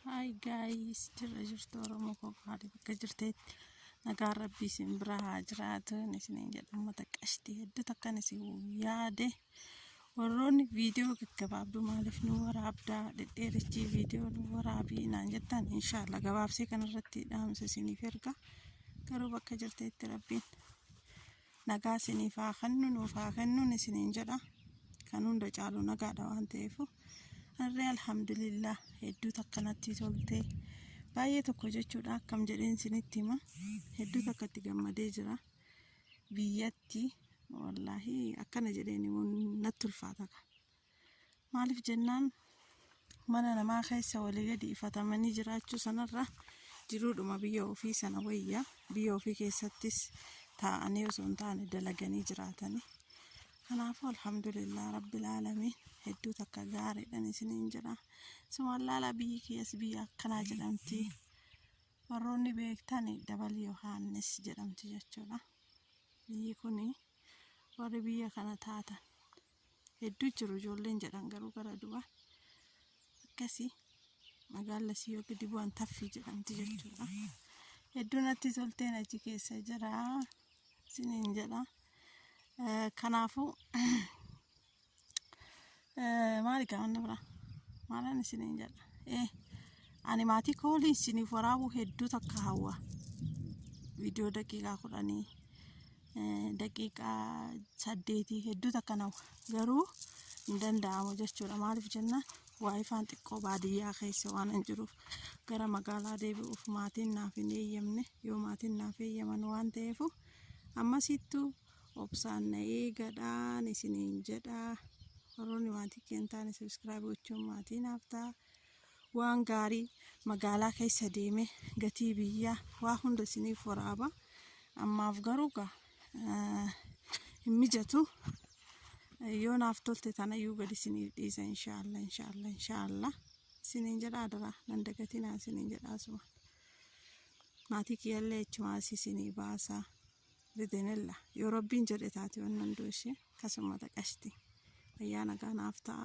Hi guys, jirra jirtu Oromoo koo haala bakka jirteetti nagaan rabbii isin bira haa jiraatu isiniin jedha uummata qashtii hedduu takkan isin yaade warroonni viidiyoo gaggabaabduu maaliif nu waraabdaa dhedheerichii viidiyoo nu waraabii naan jettan inshaallah gabaabsee kanarratti dhaamsa isiniif erga garuu bakka jirteetti rabbiin nagaa isiniif haa kennu nuuf haa kennuun isiniin jedha kan hunda caalu nagaadha waan ta'eef harree alhamdulillah hedduu takka natti tolte baay'ee tokko jechuudha akkam jedheen isinitti hima hedduu takka itti gammadee jira biyyatti wallaahi akkana jedheen himuun natti ulfaata ka Maaliif jennaan mana namaa keessa walii gadi ifatamanii jiraachuu sanarra jiruudhuma biyya ofii sana wayya biyya ofii keessattis taa'anii osoo hin taane dalaganii jiraatanii. Kanaafuu alhamdulillah rabbil aalamiin hedduu takka gaariidhan isiniin jedha. Sumaan laalaa biyyi kiyyas biyya akkanaa jedhamti. Warroonni beektan dabal Yohaannis jedhamti jechuudha. Biyyi kuni warri biyya kana taatan hedduu jiru ijoolleen jedhan garuu gara duwaa akkasii magaalli sii yoo gadi bu'an taffii jedhamti jechuudha. Hedduu natti tolteen achi keessa jira isiniin jedha. Eh, Kanaafuu eh, maali gaafan biraa maalaan isiniin jedha. Eh, Ani maatii koo waliin isiniif waraabuu hedduu takka hawwa. Viidiyoo daqiiqaa kudhanii daqiiqaa saddeetii hedduu takka nawa garuu hin danda'amu jechuudha maaliif jennaan waayifaan xiqqoo baadiyyaa keessa waan hin jiruuf gara magaalaa deebi'uuf maatiin naaf hin eeyyamne yoo maatiin naaf eeyyaman waan ta'eef ammasittu obsaan na eegadhaan isiniin jedhaa warroonni maatii keentaan sabiskiraayib gochuun maatii naaf ta'a. waan gaarii magaalaa keessa deemee gatii biyyaa waa hunda isiniif waraaba ammaaf garuu gaa eh, hin mijatu yoo naaf tolte tanayyuu gadi isiniif dhiisa inshaallah inshaallah inshaallah isiniin jedha adaraa nan dagatinaa isiniin jedha asuma maatii kiyyallee achumaas isinii baasa bidenella yoo rabbiin jedhe taate waan hunduu ishee akkasuma taqashti ayyaana gaanaaf ta'a